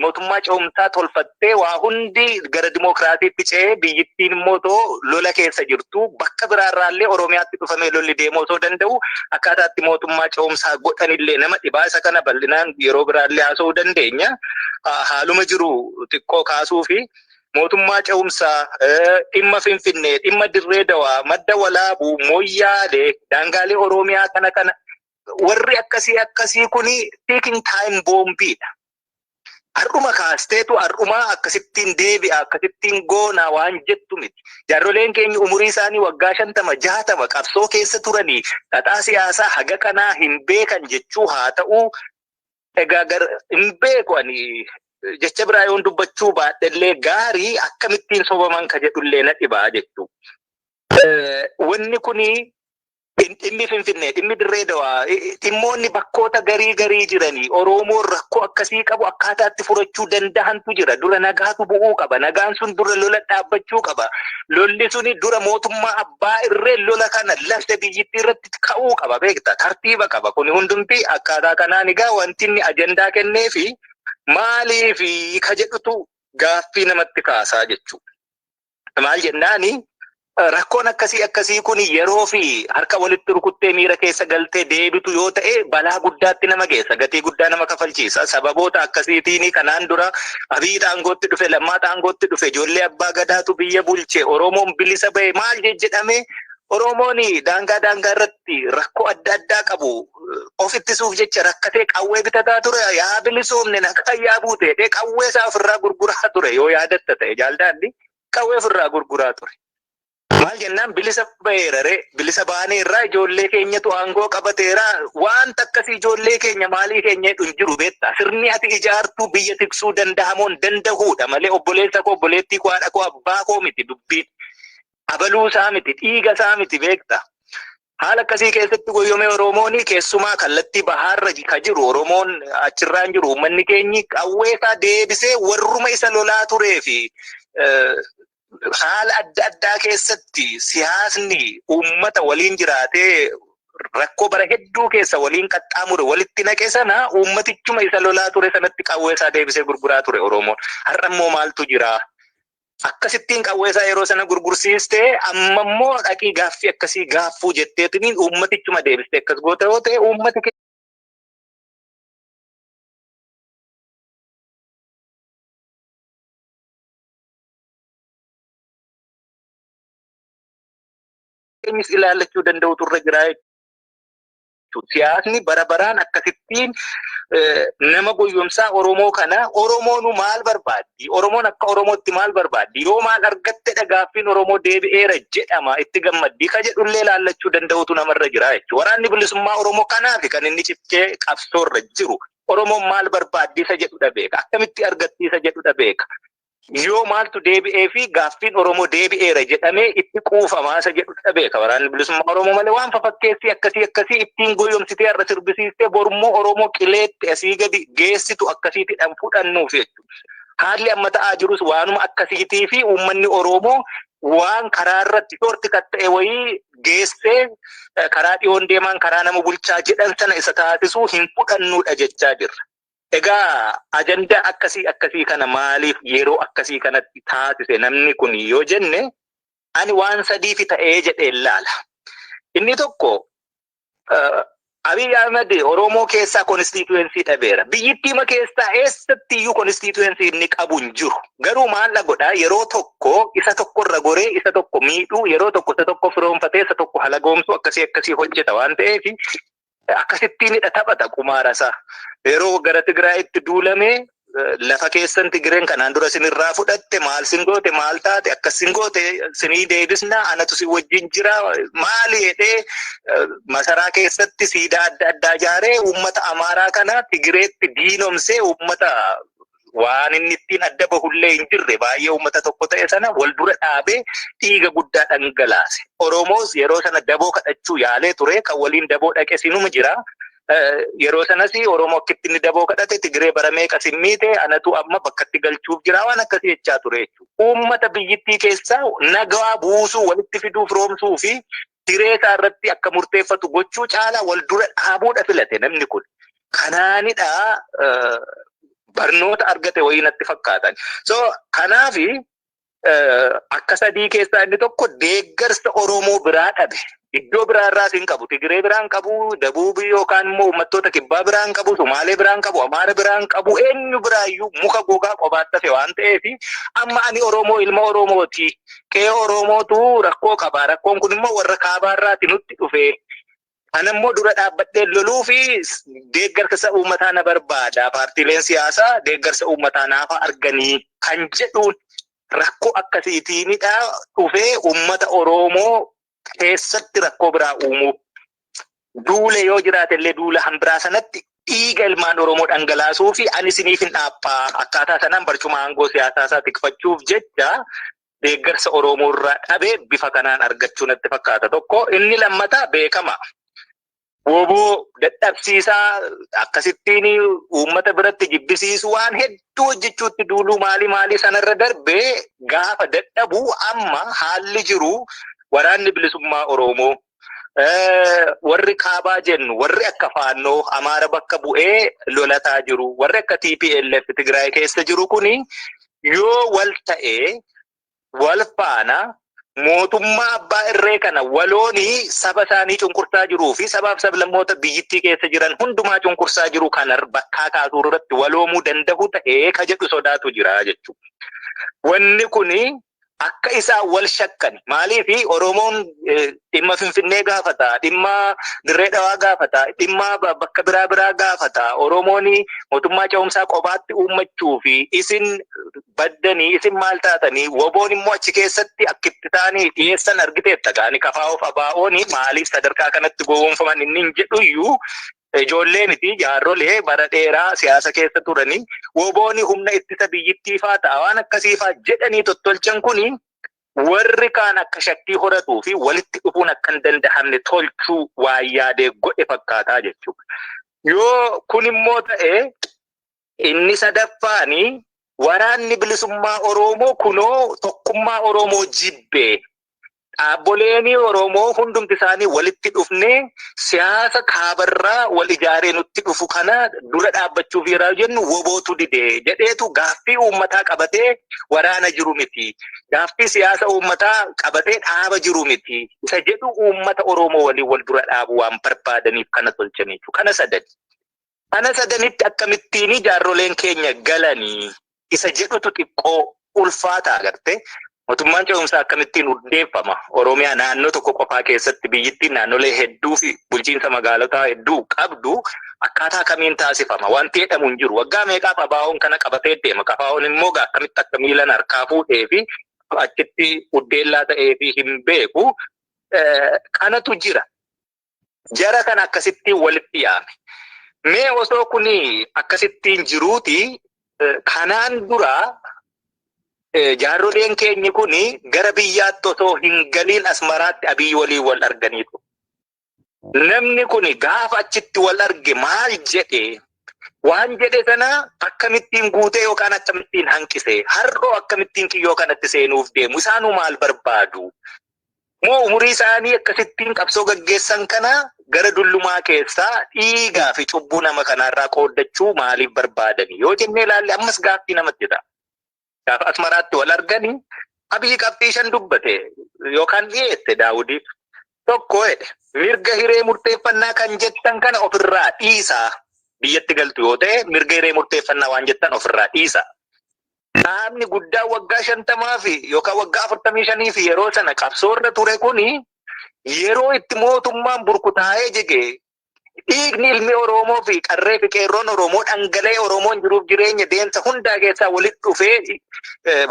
mootummaa ce'umsaa tolfattee waa hundi gara dimookiraasiitti ce'ee biyyittiin immoo too lola keessa jirtu bakka biraarraallee Oromiyaatti dhufamee lolli deemuu osoo danda'u akkaataatti mootummaa ce'umsaa godhanillee nama dhibaa isa kana bal'inaan yeroo biraallee haasa'uu dandeenya. Haaluma jiru xiqqoo kaasuu fi mootummaa ce'umsaa dhimma Finfinnee, dhimma Dirree Dawaa, madda walaabuu, mooyyaalee, daangaalee Oromiyaa kana kana warri akkasii akkasii kuni ticking time boombiidha. Har'uma kaasteetu har'umaa akkasittiin deebi'a akkasittiin goonaa waan jettu miti. Jaarroleen keenya umurii isaanii waggaa shantama jaatama qabsoo keessa turanii xaxaa siyaasaa haga kanaa hin beekan jechuu haa ta'uu egaa gar hin beeku ani jecha biraa yoon dubbachuu baadhellee gaarii akkamittiin sobaman ka jedhullee na dhibaa jechuu. Wanni kuni Dhimmi Finfinnee, dhimmi Dirree Dawaa, dhimmoonni bakkoota garii garii jiranii Oromoon rakkoo akkasii qabu akkaataa itti furachuu danda'antu jira. Dura nagaatu bu'uu qaba. Nagaan sun dura lola dhaabbachuu qaba. Lolli suni dura mootummaa abbaa irree lola kana lafte biyyittii irratti ka'uu qaba beekta. Tartiiba qaba. Kuni hundumti akkaataa kanaan egaa wanti inni ajandaa kennee fi maaliif ka jedhutu gaaffii namatti kaasaa jechuudha. Maal jennaani rakkoon akkasii akkasii kun yeroo fi harka walitti rukuttee miira keessa galtee deebitu yoo ta'e balaa guddaatti nama geessa gatii guddaa nama kafalchiisa sababoota akkasiitiin kanaan dura abiyyi aangootti dhufe lammaa aangootti dhufe ijoollee abbaa gadaatu biyya bulche oromoon bilisa ba'e maal jedhame oromoon daangaa daangaa irratti rakkoo adda addaa qabu of ittisuuf jecha rakkatee qawwee bitataa ture yaa bilisoomne nagaan yaa buute jedhee qawwee isaa ofirraa gurguraa ture yoo yaadatta ta'e jaaldaanni qawwee ofirraa gurguraa ture. Maal jennaan bilisa baheera ree bilisa baaneerraa ijoollee keenyatu aangoo qabateera wanta akkasii ijoollee keenya maalii keenya jedhu hin jiru beektaa sirni ati ijaartuu biyya tiksuu danda'amoon dandahuudha malee obboleessa koo obboleettii koo haadha koo abbaa koo miti dubbiin abaluu isaa miti dhiiga isaa miti beektaa Haala akkasii keessatti goyyomee Oromoon keessumaa kallattii bahaarra ka jiru Oromoon achirraan jiru uummanni keenyi qawweesaa deebisee warruma isa lolaa turee fi haala adda addaa keessatti siyaasni uummata waliin jiraatee rakkoo bara hedduu keessa waliin qaxxaamure walitti naqe sana uummatichuma isa lolaa ture sanatti qawweesaa deebisee gurguraa ture Oromoon. Har'a immoo maaltu jira? Akkasittiin qawwee isaa yeroo sana gurgursiiste amma immoo dhaqii gaaffii akkasii gaaffuu jetteetiniin uummatichuma deebiste akkas goota yoo ta'e uummati kee keenyis ilaallachuu danda'utu irra jira jechuudha. Siyaasni bara baraan akkasittiin nama goyyomsaa Oromoo kana Oromoonu maal barbaaddi? Oromoon akka Oromootti maal barbaaddi? Yoo maal argattedha gaaffiin Oromoo deebi'eera jedhama itti gammaddii ka jedhullee laallachuu danda'utu namarra jira jechuudha. Waraanni bilisummaa Oromoo kanaaf kan inni cichee qabsoorra jiru. Oromoon maal barbaaddi isa jedhudha beeka. Akkamitti argatti isa jedhudha beeka. Yoo maaltu deebi'ee fi gaaffiin Oromoo deebi'eera jedhamee itti quufamaa isa jedhu dhabeeka. Waraanni bilisummaa Oromoo malee waan fafakkeessii akkasii akkasii ittiin goyyomsitee irra sirbisiistee borummoo Oromoo qileetti asii gadi geessitu akkasiitti dhan fudhannuuf jechuudha. Haalli amma ta'aa jirus waanuma akkasiitii fi uummanni Oromoo waan karaa irratti shorti kan ta'e wayii geessee karaa dhiyoon deemaan karaa nama bulchaa jedhan sana isa taasisuu hin fudhannuudha jechaa jirra. Egaa ajandaa akkasii akkasii kana maaliif yeroo akkasii kanatti taasise namni kun yoo jenne ani waan sadiifi ta'ee jedheen laala. Inni tokko Abiy Ahmed Oromoo keessaa konstituensii dhabeera. Biyyittiima keessaa eessatti iyyuu konstituensii inni qabu hin jiru. Garuu maalla godhaa yeroo tokko isa tokko irra goree isa tokko miidhuu yeroo tokko isa tokko firoomfatee isa tokko halagoomsuu akkasii akkasii hojjeta waan ta'eef akkasittiinidha taphata qumaara isaa. Yeroo gara Tigraayitti duulamee lafa keessan Tigireen kanaan dura sinirraa fudhatte maal sin goote maal taate akkas sin goote sinii deebisna anatu si wajjin jira maali jedhee masaraa keessatti siidaa adda addaa ijaaree uummata Amaaraa kana Tigireetti diinomsee uummata waan inni ittiin adda bahullee hin jirre baay'ee uummata tokko ta'e sana wal dura dhaabee dhiiga guddaa dhangalaase. Oromoos yeroo sana daboo kadhachuu yaalee ture kan waliin daboo dhaqe sinuma jira. Yeroo sanas Oromoo akkitti inni daboo kadhate Tigiree bara meeqa simmiite anatu amma bakkatti galchuuf jira waan akkasii jechaa ture jechuudha. Uummata biyyittii keessaa nagaa buusuu walitti fiduu firoomsuu fi hiree isaa irratti akka murteeffatu gochuu caalaa wal dura dhaabuudha filate namni kun. Kanaanidha barnoota argate wayii natti fakkaatan. So kanaaf akka sadii keessaa inni tokko deeggarsa Oromoo biraa dhabe. Iddoo biraa irraas hin qabu. Tigiree biraa hin qabu. Dabuubii yookaan immoo uummattoota kibbaa biraa hin qabu. Sumaalee biraa hin qabu. Amaara biraa hin qabu. Eenyu biraa iyyuu muka gogaa qobaatti hafe waan ta'eef amma ani Oromoo ilma Oromooti. Qe'ee Oromootu rakkoo qaba. Rakkoon kun immoo warra kaabaa irraati nutti dhufe. Ana immoo dura dhaabbadhee loluu fi deeggarsa uummataa na barbaada. Paartiileen siyaasaa deeggarsa uummataa naaf arganii kan jedhuun rakkoo akkasiitiinidha dhufee uummata Oromoo keessatti rakkoo biraa uumuu. Duule yoo jiraate illee duula hanbiraa sanatti dhiiga ilmaan Oromoo dhangalaasuu fi ani isiniif hin dhaabba akkaataa sanaan barcuma aangoo siyaasaa isaa tikfachuuf jecha deeggarsa Oromoo irraa dhabee bifa kanaan argachuu natti fakkaata tokko. Inni lammataa beekama. Woboo dadhabsiisaa akkasittiin uummata biratti jibbisiisu waan hedduu hojjechuutti duuluu maalii maalii sanarra darbee gaafa dadhabu amma haalli jiru waraanni bilisummaa Oromoo warri kaabaa jennu warri akka faannoo amaara bakka bu'ee lolataa jiru warri akka TPLF Tigraay keessa jiru kuni yoo wal ta'e wal faana mootummaa abbaa irree kana waloonii saba isaanii cunqursaa jiruu fi sabaaf sablammoota biyyittii keessa jiran hundumaa cunqursaa jiru kana bakkaa kaasuu irratti waloomuu danda'u ta'ee ka jedhu sodaatu jira jechuudha. Wanni kuni akka isaan wal shakkan maaliif Oromoon dhimma Finfinnee gaafata, dhimma Dirree Dhawaa gaafata, dhimma bakka biraa biraa gaafata. Oromoon mootummaa ce'umsaa qobaatti uummachuu fi isin baddanii isin maal taatanii woboon immoo achi keessatti akkitti taanii dhiyeessan argiteetta gaani kafaa of abaa'oon maaliif sadarkaa kanatti gowwoomfaman inni hin jedhuyyuu Ijoolleen fi jaarrolee bara dheeraa siyaasa keessa turanii wobooni humna ittisa biyyittii faa ta'a waan akkasii faa jedhanii tottolchan kuni warri kaan akka shakkii horatuu fi walitti dhufuun akka hin dandahamne tolchuu waan yaadee godhe fakkaataa jechuudha. Yoo kun immoo ta'e Inni sadaffaani waraanni bilisummaa Oroomoo kunoo tokkummaa Oroomoo jibbe. Dhaabboleeni Oroomoo hundumti isaanii walitti dhufnee siyaasa kaabarraa wal ijaaree nutti dhufu kana dura dhaabbachuuf yeraa jennu wobootu dide jedheetu gaaffii uummataa qabatee waraana jiru miti. Gaaffii siyaasa uummataa qabatee dhaaba jiru miti. Isa jedhu uummata Oroomoo waliin wal dura dhaabuu waan barbaadaniif kana tolchaniitu. Kana sadani. Ana sadanitti akkamittiinii jaarroleen keenya galanii isa jedhutu xiqqoo ulfaata agarte. Mootummaan ce'umsaa akkamittiin hundeeffama? Oromiyaa naannoo tokko qofaa keessatti biyyittiin naannolee hedduu fi bulchiinsa magaalotaa hedduu qabdu akkaataa kamiin taasifama? Wanti jedhamu hin jiru. Waggaa meeqaaf abaawoon kana qabatee deema? Kafaawoon immoo gaa akkamitti akka miilan harkaa fuudhee fi achitti uddeellaa ta'ee fi hin beeku. Kanatu jira. Jara kan akkasittiin walitti yaame. Mee osoo kun akkasittiin jiruuti kanaan dura jaarroleen keenyi kun gara biyyaatti osoo hin galiin asmaraatti abiy waliin wal arganii ture. Namni kun gaafa achitti wal arge maal jedhe waan jedhe sana akkamittiin guutee yookaan akkamittiin hanqise har'oo akkamittiin kiyyoo kanatti seenuuf deemu isaanuu maal barbaadu Moo umurii isaanii akkasittiin qabsoo gaggeessan kana gara dullumaa keessaa dhiigaa fi cubbuu nama kanaarraa qooddachuu maaliif barbaadani yoo jennee ilaalle ammas gaaffii namatti ta'a. Gaafa Asmaraatti wal argani Abiyyi qabxii shan dubbate yookaan dhiyeesse Daawudiif tokko jedhe mirga hiree murteeffannaa kan jettan kana ofirraa dhiisaa biyyatti galtu yoo ta'e mirga hiree murteeffannaa waan jettan ofirraa dhiisaa. Qaamni guddaa waggaa shantamaa fi yookaan waggaa afurtamii shanii fi yeroo sana qabsoorra ture kuni yeroo itti mootummaan burkutaa'ee jige dhiigni ilmi Oromoo fi qarree fi qeerroon Oromoo dhangala'ee Oromoon jiruuf jireenya deemsa hundaa keessaa walitti dhufee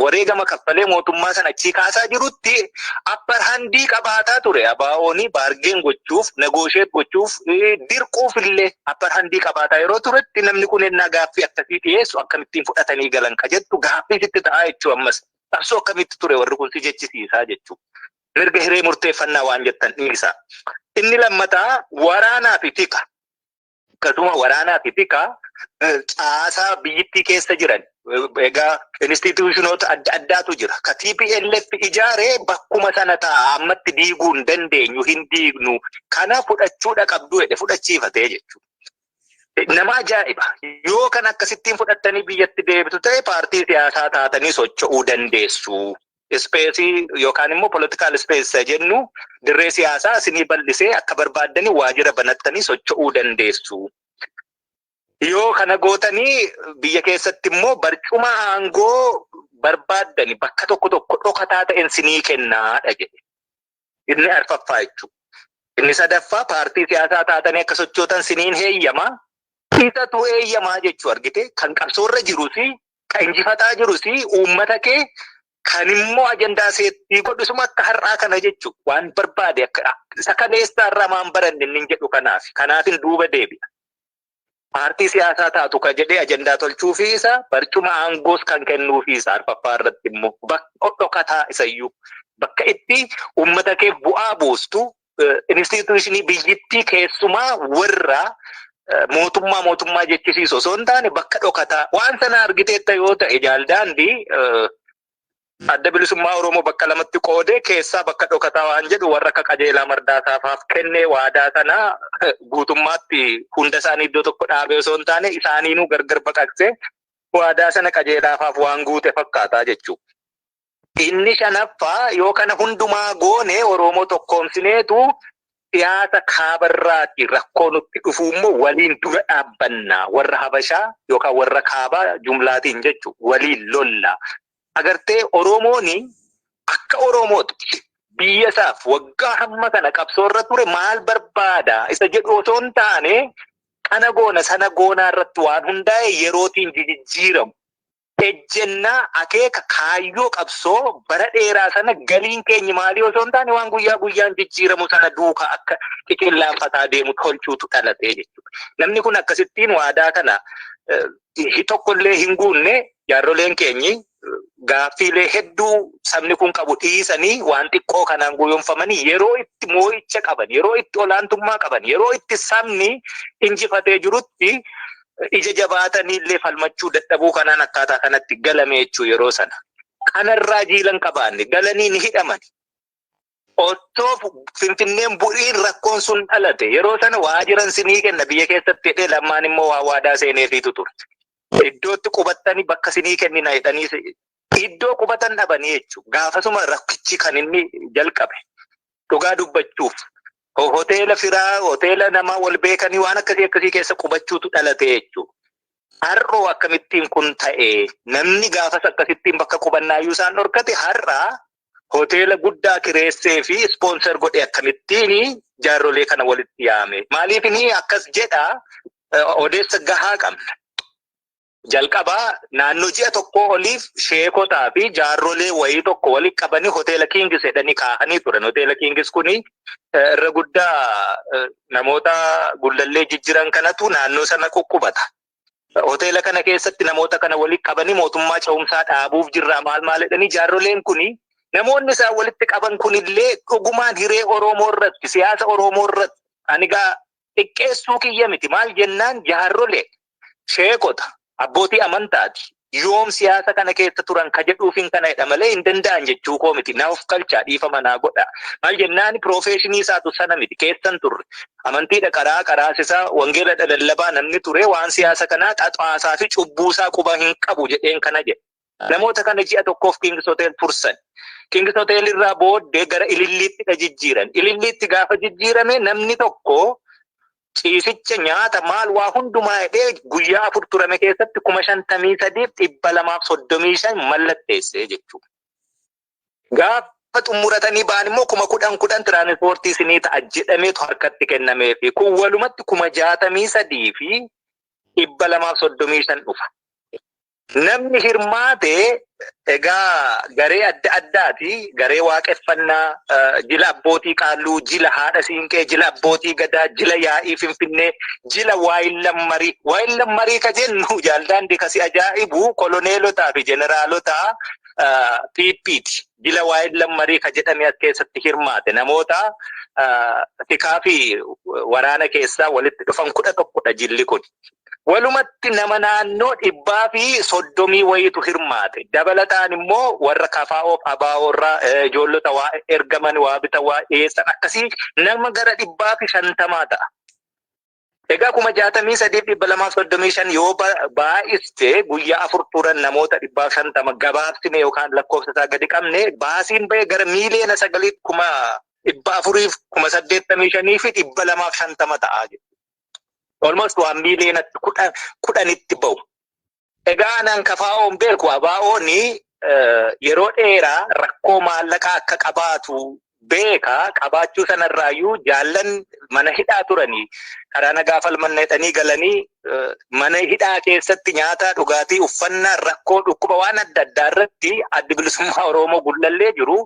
wareegama kaffalee mootummaa sana achii kaasaa jirutti Upper handii qabaataa ture ABOn baargeen gochuuf, negotiate gochuuf, eh, dirquuf illee upper handii qabaataa yeroo turetti namni kun ennaa gaaffii akkasii dhiyeessu akkamittiin fudhatanii galan ka jettu gaaffii sitti ta'aa jechuu ammas. Qabsoo akkamitti ture warri kun si jechisiisaa jechuu. Mirga hiree murteeffannaa waan jettan dhiisaa. Inni lammataa waraanaa fi tika. Akkasuma waraanaa fi tika caasaa biyyittii keessa jiran egaa instituushinoota adda addaatu jira. Ka TPLF ijaaree bakkuma sana ta'a ammatti diiguu hin dandeenyu hin diignu kana fudhachuudha qabdu jedhe fudhachiifatee jechuudha. Nama ajaa'iba. Yoo kan akkasittiin fudhattanii biyyatti deebitu ta'e paartii siyaasaa taatanii socho'uu dandeessu. ispeesii yookaan immoo political space isa jennu dirree siyaasaa isinii bal'isee akka barbaaddanii waajjira banattanii socho'uu dandeessu. Yoo kana gootanii biyya keessatti immoo barcuma aangoo barbaaddani bakka tokko tokko dhokataa ta'en sinii kennaadha jedhe. Inni arfaffaa jechuudha. Inni sadaffaa paartii siyaasaa taatanii akka sochootan siniin heeyyama. Isatu eeyyamaa jechuu argite kan qabsoorra jirus kan injifataa jirus uummata kee kan immoo ajandaa seettii godhisuma akka har'aa kana jechu waan barbaade akka isa kaleessaa irraa maan baranne inni jedhu kanaaf kanaafin duuba deebi'a. paartii siyaasaa taatu ka jedhee ajandaa tolchuufii isa barcuma aangoos kan kennuufii isa arfaffaa irratti immoo bakka dhokataa isayyuu bakka itti uummata kee bu'aa buustu inistiituushinii biyyittii keessumaa warra mootummaa mootummaa jechisiisu osoo hin taane bakka dhokataa waan sana argiteetta yoo ta'e jaaldaandii Adda Bilisummaa Oromoo bakka lamatti qoodee keessaa bakka dhokataa waan jedhu warra akka qajeelaa mardaasaa faaf kennee waadaa sana guutummaatti hunda isaanii iddoo tokko dhaabee osoo hin taane isaaniinuu gargar baqaqsee waadaa sana qajeelaafaaf waan guute fakkaataa jechuudha. Inni shanaffaa yoo kana hundumaa goone Oromoo tokkoomsineetu siyaasa kaabarraati rakkoo nutti dhufu immoo waliin dura dhaabbanna warra Habashaa yookaan warra kaabaa jumlaatiin jechuudha waliin lolla. agartee Oromoon akka Oromootti biyya isaaf waggaa hamma kana qabsoo irra ture maal barbaada isa jedhu otoo hin taane kana goona sana goonaa irratti waan hundaa'e yerootiin jijijjiiramu. Ejjennaa akeeka kaayyoo qabsoo bara dheeraa sana galiin keenyi maalii osoo hin taane waan guyyaa guyyaan jijjiiramu sana duukaa akka qiqillaanfataa deemu tolchuutu dhalatee jechuudha. Namni kun akkasittiin waadaa kana tokkollee hin guunne Jaarroleen keenyi gaaffiilee hedduu sabni kun qabu dhiisanii waan xiqqoo kanaan goyoomfamanii yeroo itti moo'icha qaban, yeroo itti olaantummaa qaban, yeroo itti sabni injifatee jirutti ija jabaatanii illee falmachuu dadhabuu kanaan akkaataa kanatti galame jechuu yeroo sana. Kanarraa jiila hin qabaanne. Galanii ni hidhamani. Ottoo Finfinneen bu'iin rakkoon sun dhalate yeroo sana waajiran sinii kenna biyya keessatti jedhee lammaan immoo waa waadaa seeneefiitu ture. Iddootti qubattanii bakka sinii kennina jedhanii iddoo qubatan dhabanii jechuudha. Gaafasuma rakkichi kan inni jalqabe dhugaa dubbachuuf hoteela firaa hoteela namaa wal beekanii waan akkasii akkasii keessa qubachuutu dhalate jechuudha. Har'oo akkamittiin kun ta'e namni gaafas akkasittiin bakka qubannaayyuu isaan dhorkate har'a hoteela guddaa kireessee fi ispoonsar godhe akkamittiin jaarrolee kana walitti yaame maaliif ni akkas jedha odeessa gahaa qabna. Jalqabaa naannoo ji'a tokkoo oliif sheekotaa fi jaarrolee wayii tokko walitti qabanii hoteela kiingis jedhanii kaahanii turan. Hoteela kiingis kun irra guddaa namoota gullallee jijjiran kanatu naannoo sana quqqubata. hoteela kana keessatti namoota kana walitti qabanii mootummaa cehumsaa dhaabuuf jirraa maal maal jedhanii jaarroleen kuni namoonni isaan walitti qaban kunillee dhugumaan hiree Oromoo irratti siyaasa Oromoo irratti ani gaa xiqqeessuu kiyya miti maal jennaan jaarrolee sheekota abbootii amantaati yoom siyaasa kana keessa turan ka jedhuufin kana jedha malee hin danda'an jechuu koo miti. Na of kalchaa dhiifama naa godha. Maal jennaan piroofeeshinii isaatu sana miti keessan turre. Amantiidha qaraa qaraasisa wangeeladha lallabaa namni ture waan siyaasa kanaa xaxaasaa fi cubbuusaa quba hin qabu jedheen kana jedhe. Namoota kana ji'a tokkoof King's Hotel tursan. King's Hotel irraa booddee gara Ililliittidha jijjiiran. Ililliitti gaafa jijjiirame namni tokko ciisicha nyaata maal waa hundumaa hidhee guyyaa afur turame keessatti kuma shantamii sadiif dhibba lamaaf soddomii shan mallatteessee jechuudha. Gaafa xumuratanii ba'an immoo kuma kudhan kudhan tiraanispoortii isinii ta'a jedhameetu harkatti kennamee fi kun walumatti kuma jaatamii sadii fi dhibba lamaaf soddomii shan dhufa. Namni hirmaate egaa garee adda addaati. Garee waaqeffannaa, jila abbootii qaalluu, jila haadha siinqee, jila abbootii gadaa, jila yaa'ii finfinnee, jila waayillan marii. Waayillan marii ka jennu jaaldaandi kasi ajaa'ibu koloneelotaa fi jeneraalota PPti. jila waa'een lammarii ka jedhame as keessatti hirmaate namoota tikaa fi waraana keessaa walitti dhufan kudha tokkodha jilli kun. Walumatti nama naannoo dhibbaa fi soddomii wayiitu hirmaate. Dabalataan immoo warra kafaa'oof abaawoorraa ijoollota waa ergaman waa bitan waa dhiyeessan akkasii nama gara dhibbaa fi shantamaa ta'a. Egaa kuma jaatamii sadiif dhibba lamaaf soddomii shan yoo baay'iste guyyaa afur turan namoota dhibbaaf shantama gabaabsine yookaan lakkoofsa isaa gadi qabne baasiin ba'e gara miiliyoona sagaliif kuma dhibba afuriif kuma saddeettamii shanii fi dhibba lamaaf shantama ta'a jechuudha. Olmost waan miiliyoonatti kudhanitti ba'u. Egaa anan KFOn beeku ABOn yeroo dheeraa rakkoo maallaqaa akka qabaatu beeka. Qabaachuu sanarraayyuu jaallan mana hidhaa turanii karaa nagaa falmanna jedhanii galanii mana hidhaa keessatti nyaata, dhugaatii, uffannaa, rakkoo, dhukkuba waan adda addaa irratti Addi Bilisummaa Oromoo Gullallee jiru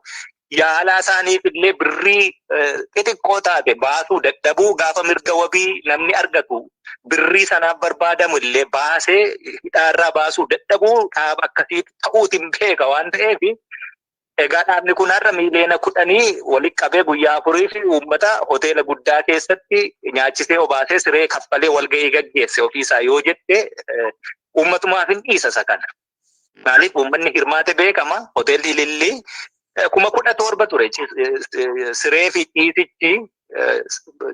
yaalaa isaaniif illee birrii xixiqqoo taate baasuu dadhabuu gaafa mirga wabii namni argatu birrii sanaaf barbaadamu illee baasee hidhaarraa baasuu dadhabuu dhaaba akkasii ta'uutiin beeka waan ta'eef egaa dhaabni kun har'a miiliyoona kudhanii walitti qabee guyyaa afurii fi uummata hoteela guddaa keessatti nyaachisee obaasee siree kaffalee walgahii gaggeesse ofiisaa yoo jette uummatumaaf hin dhiisa isa kana. Maaliif uummanni hirmaate beekama. Hoteelli Ilillii eh, kuma kudha torba ture. Ci- eh, eh, Siree fi ciisichi eh,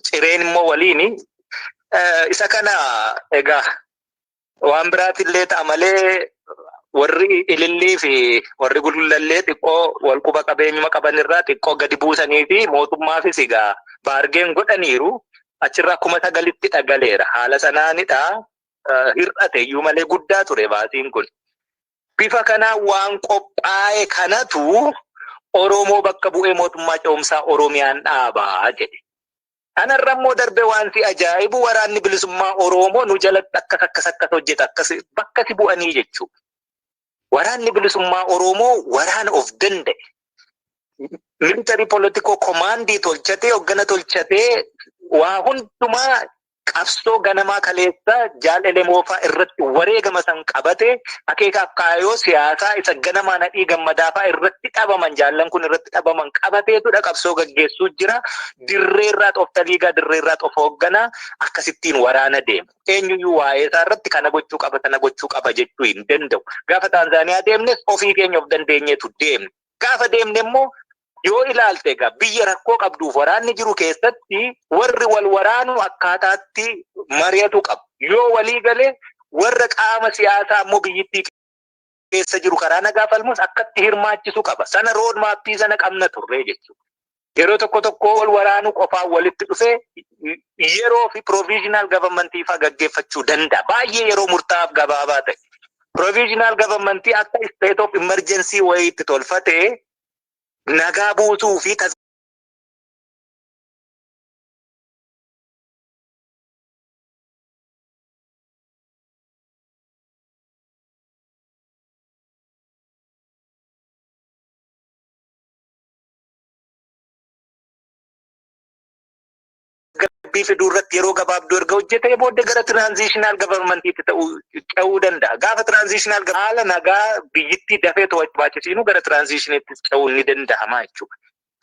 cireen immoo waliini. Eh, Isa kana egaa waan biraatillee ta'a malee warri ilillii fi warri gullallee xiqqoo wal quba qabeenyuma qaban irraa xiqqoo gadi buusanii fi mootummaafis egaa baargeen godhaniiru achirraa kuma sagalitti dhagaleera haala sanaanidha hir'ate iyyuu malee guddaa ture baasiin kun. Bifa kanaan waan qophaa'e kanatu Oromoo bakka bu'ee mootummaa ce'umsaa Oromiyaan dhaabaa jedhe. Kanarra immoo darbe waan si ajaa'ibu waraanni bilisummaa Oromoo nu jalatti akkas akkas akkas hojjeta akkas bakka si bu'anii jechuudha. Waraanni bilisummaa Oromoo waraana of danda'e. Militarii politikoo komaandii tolchatee hoggana tolchatee waa hundumaa qabsoo ganamaa kaleessa jaal elemoofaa irratti wareegama san qabate akeekaaf kaayoo siyaasaa isa ganamaa nadhii gammadaafaa irratti dhabaman jaallan kun irratti dhabaman qabateetudha qabsoo gaggeessuu jira dirreerraa xoftaliigaa dirreerraa xof hoogganaa akkasittiin waraana deema eenyuyyuu waa'ee isaa irratti kana gochuu qaba sana gochuu qaba jechuu hin danda'u gaafa taanzaaniyaa deemnes ofii keenya of dandeenyeetu deemne gaafa deemne immoo yoo ilaalte egaa biyya rakkoo qabduuf waraanni jiru keessatti warri wal waraanu akkaataatti mari'atu qabu. Yoo walii gale warra qaama siyaasaa ammoo biyyittii keessa jiru karaa nagaa falmus akkatti hirmaachisu qaba. Sana rood maappii sana qabna turree jechuudha. Yeroo tokko tokko wal waraanuu qofaan walitti dhufee yeroo fi provisional government faa gaggeeffachuu danda'a. Baay'ee yeroo murtaa'aaf gabaabaa ta'e. Provisional government akka state of emergency wayiitti tolfatee nagaa buusuu fi tasgabbii fiduu irratti yeroo gabaabduu erga hojjetee booda gara tiraanziishinaal gavarmantiitti ta'uu ce'uu danda'a. Gaafa tiraanziishinaal haala nagaa biyyittii dafee to'achuu baachisiinu gara tiraanziishiniitti ce'uun ni danda'ama jechuudha.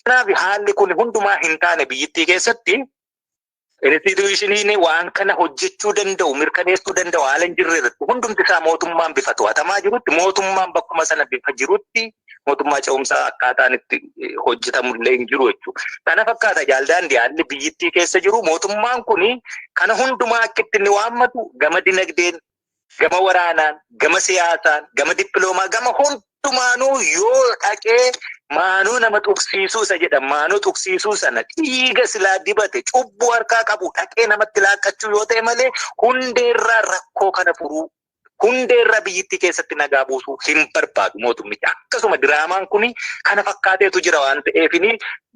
Kanaaf haalli kun hundumaa hin taane biyyittii keessatti instituushiniin waan kana hojjechuu danda'u mirkaneessuu danda'u haala hin jirre irratti hundumti isaa mootummaan bifa to'atamaa jirutti mootummaan bakkuma sana bifa jirutti mootummaa ce'umsaa akkaataan itti eh, hojjetamu illee hin jiru jechuudha. Kana fakkaata jaaldaandi haalli biyyittii keessa jiru mootummaan kun kana hundumaa akka itti inni waammatu gama dinagdeen, gama waraanaan, gama siyaasaan, gama dippiloomaa, gama hundumaanuu yoo dhaqee maanoo nama tuqsiisuu isa jedhan maanoo tuqsiisuu sana dhiiga silaa dibate cubbuu harkaa qabu dhaqee namatti laaqqachuu yoo ta'e malee hundeerraa rakkoo kana furuu hundee irraa biyyittii keessatti nagaa buusuu hin barbaadu mootummichi. Akkasuma diraamaan kun kana fakkaateetu jira waan ta'eef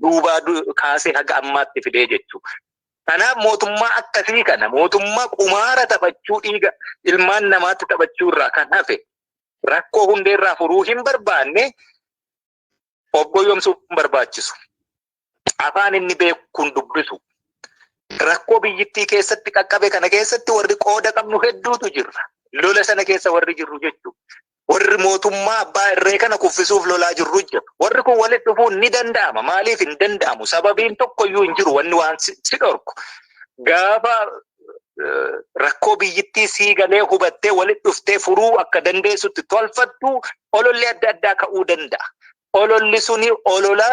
duubaa kaasee haga ammaatti fidee jechuudha. Kanaaf mootummaa akkasii kana mootummaa qumaara taphachuu dhiiga ilmaan namaatti taphachuu irraa kan hafe rakkoo hundee irraa furuu hin barbaanne of goyyomsuu hin barbaachisu. Afaan inni beekuun dubbisu. Rakkoo biyyittii keessatti qaqqabe kana keessatti warri qooda qabnu hedduutu jirra. Lola sana keessa warri jirru jechuudha. Warri mootummaa abbaa irree kana kuffisuuf lolaa jirru jira. Warri kun walitti dhufuun ni danda'ama. Maaliif hin danda'amu? Sababiin tokkoyyuu hin jiru wanni waan si si dhorku. Gaafa eh, rakkoo biyyittii sii galee hubattee walitti dhuftee furuu akka dandeessutti tolfattu ololli adda addaa ka'uu danda'a. Ololli suni olola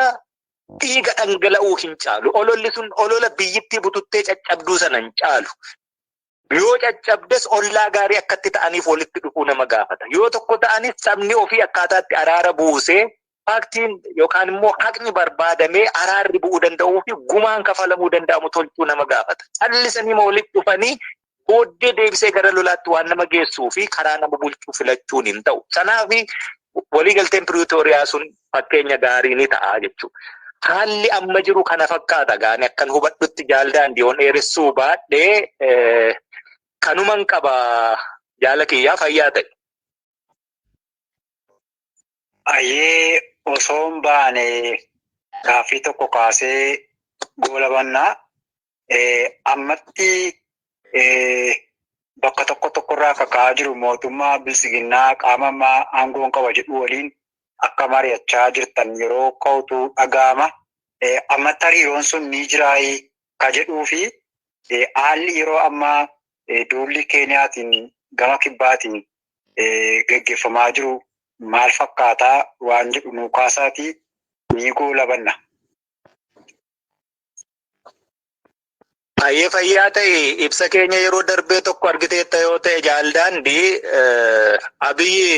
dhiiga dhangala'uu hin caalu. Ololli sun olola biyyittii bututtee caccabduu sana hin caalu. Yoo caccabdes ollaa gaarii akkatti ta'aniif walitti dhufuu nama gaafata. Yoo tokko ta'anis sabni ofii akkaataatti araara buusee faaktiin yookaan immoo haqni barbaadamee araarri bu'uu danda'uu fi gumaan kafalamuu danda'amu tolchuu nama gaafata. Callisanii ma walitti dhufanii booddee deebisee gara lolaatti waan nama geessuu fi karaa nama bulchuu filachuun hin ta'u. Kanaaf waliigalteen Piriitooriyaa sun fakkeenya gaarii ni ta'a jechuudha. Haalli amma jiru kana fakkaata gaani akkan hubadhutti jaal daandii yoon dheeressuu baadhee kanuman qaba jaala kiyyaa fayyaa ta'e. Ayyee osoo hin baane gaaffii tokko kaasee goolabannaa ammatti bakka tokko tokkorraa kaka'aa jiru mootummaa bilsiginnaa qaama ammaa aangoon qaba jedhu waliin akka mari'achaa jirtan yeroo ka'utu dhaga'ama. Ammatti hariiroon sun ni jiraayi ka jedhuu fi haalli yeroo ammaa duulli Keeniyaatiin gama kibbaatiin gaggeeffamaa jiru maal fakkaataa waan jedhu nuu kaasaatii ni goolabanna. Baay'ee fayyaa ta'e ibsa keenya yeroo darbee tokko argiteetta yoo ta'e jaaldaandii abiyyi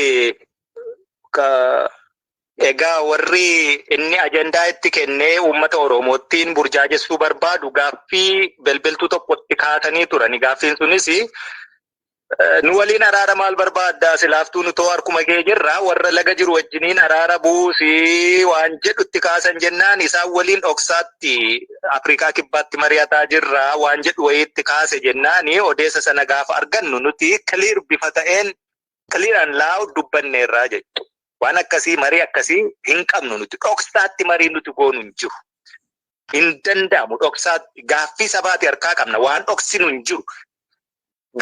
egaa warri inni ajandaa itti kennee uummata Oromoottiin burjaajessuu barbaadu gaaffii belbeltuu tokkotti kaasanii turani. Gaaffiin sunis nu waliin araara maal barbaadda silaaftuu nu too harkuma kee jirra warra laga jiru wajjiniin araara buusi waan jedhutti kaasan jennaan isaan waliin dhoksaatti Afrikaa kibbaatti mari'ataa jirra waan jedhu wayiitti kaase jennaani odeessa sana gaafa argannu nuti kiliir bifa ta'een kiliir an laa'u dubbanneerraa jechuudha. Waan akkasii marii akkasii hin qabnu nuti dhoksaatti marii nuti goonu hin jiru. Hin danda'amu dhoksaatti gaaffii sabaati harkaa qabna waan dhoksinu hin jiru.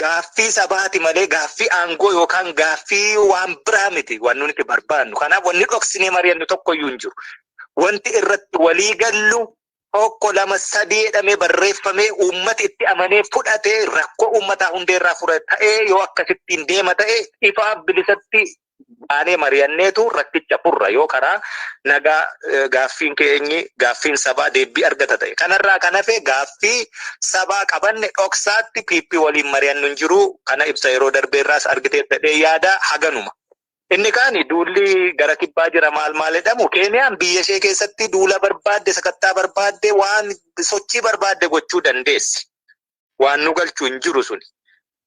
Gaaffii sabaati malee gaaffii aangoo yookaan gaaffii waan biraa miti waan nuti barbaannu. Kanaaf wanni dhoksinee mari'annu tokkoyyuu hin jiru. Wanti irratti walii gallu tokko lama sadii jedhamee barreeffamee uummati itti amanee fudhatee rakkoo uummataa hundee irraa fura ta'ee yoo akkasittiin deema ta'e ifaa bilisatti baanee mari'anneetu rakkicha furra yoo karaa nagaa gaaffiin keenyi gaaffiin sabaa deebbii argata ta'e. Kanarraa kan hafe gaaffii sabaa qabanne dhoksaatti PP waliin mari'annu hin jiru. Kana ibsa yeroo darbeerraas argiteetta jedhee yaada haganuma. Inni kaani duulli gara kibbaa jira maal maal jedhamu Keeniyaan biyya ishee keessatti duula barbaadde sakattaa barbaadde waan sochii barbaadde gochuu dandeessi. Waan nu galchu hin jiru suni.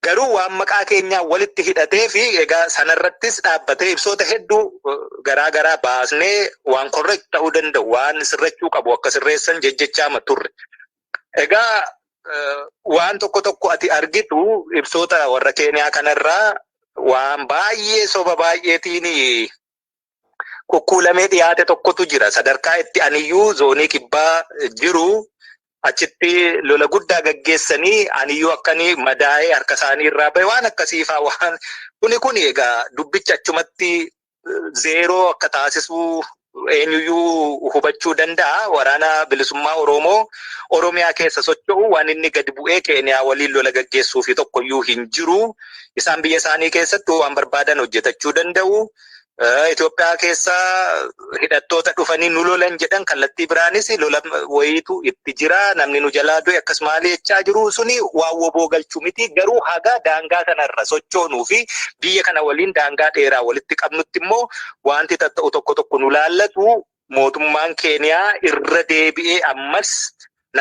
Garuu waan maqaa keenyaa walitti hidhatee fi egaa sana irrattis dhaabbatee ibsoota hedduu garaa garaa baasnee waan correct ta'uu danda'u waan sirrachuu qabu akka sirreessan jejjechaama turre. Egaa waan tokko tokko ati argitu ibsoota warra Keeniyaa kanarraa waan baay'ee soba baay'eetiin kukkuulamee dhiyaate tokkotu jira. Sadarkaa itti aniyyuu zoonii kibbaa jiru achitti lola guddaa gaggeessanii aniyyuu akkanii madaa'ee harka isaanii irraa bahe waan akkasiifaa waan kuni kuni egaa dubbicha achumatti zeeroo akka taasisuu eenyuyyuu hubachuu danda'a. Waraana bilisummaa Oromoo Oromiyaa keessa socho'u waan inni gadi bu'ee Keeniyaa waliin lola gaggeessuu fi tokkoyyuu hin jiru. Isaan biyya isaanii keessatti waan barbaadan hojjetachuu danda'u. Itoophiyaa keessa hidhattoota dhufanii nu lolan jedhan kallattii biraanis lola wayiitu itti jira namni nu jalaa du'e akkas maali jechaa jiru suni waan woboo galchu miti garuu haga daangaa kanarra sochoonuu fi biyya kana waliin daangaa dheeraa walitti qabnutti immoo wanti tatta'u tokko tokko nu laallatu mootummaan keeniyaa irra deebi'ee ammas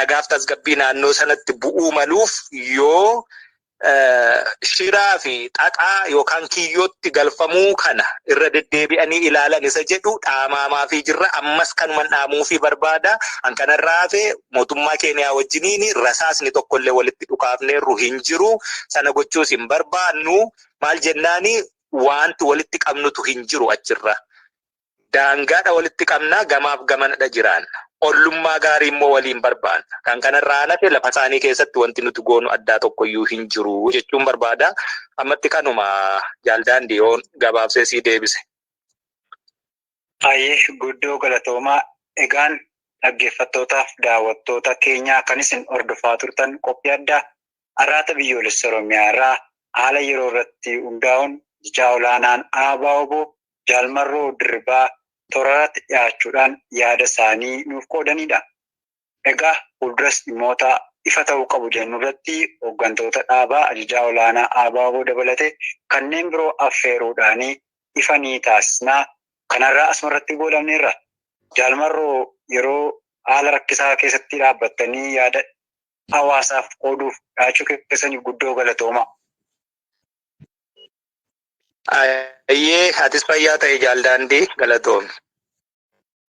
nagaaf tasgabbii naannoo sanatti bu'uu maluuf yoo shiraa fi xaxaa yookaan kiyyootti galfamuu kana irra deddeebi'anii ilaalan isa jedhu dhaamaamaa fi jirra ammas kanuman dhaamuu fi barbaada an kanarraa hafe mootummaa keeniyaa wajjiniin rasaasni tokkollee walitti dhukaafneerru hin jiru sana gochuus hin barbaannu maal jennaani wanti walitti qabnutu hin jiru achirra Daangaadha walitti qabna, gamaaf gamanadha jiraanna. Ollummaa gaarii immoo waliin barbaanna. Kan kana irraa an hafe lafasaanii keessatti wanti nuti goonu addaa tokkoyyuu hin jiru jechuun barbaada. Ammatti kanuma Jaal Daandii yoon gabaabsee sii deebise. Hayyee guddoo galatoomaa. Egaan dhaggeeffattootaaf daawwattoota keenyaa kan isin hordofaa turtan qophii addaa Arraata Biyyoolessa Oromiyaa irraa haala yeroo irratti hundaa'uun Ajajaa Olaanaan ABO-wbo Jaal Marroo Dirribaa toorarratti dhiyaachuudhaan yaada isaanii nuuf qoodaniidha. Egaa fuulduras dhimmoota ifa ta'uu qabu jennurratti hoggantoota dhaabaa, ajajaa olaanaa ABO dabalate kanneen biroo affeeruudhaan ifa ni taasisna. Kanarraa asumarratti goolabneerra. Jaal Marroo yeroo haala rakkisaa keessatti dhaabbattanii yaada hawaasaaf qooduuf dhiyaachuu keessaniif guddoo galatoomaa. Ayyee atis fayyaa ta'e jaal daandii galatoomi.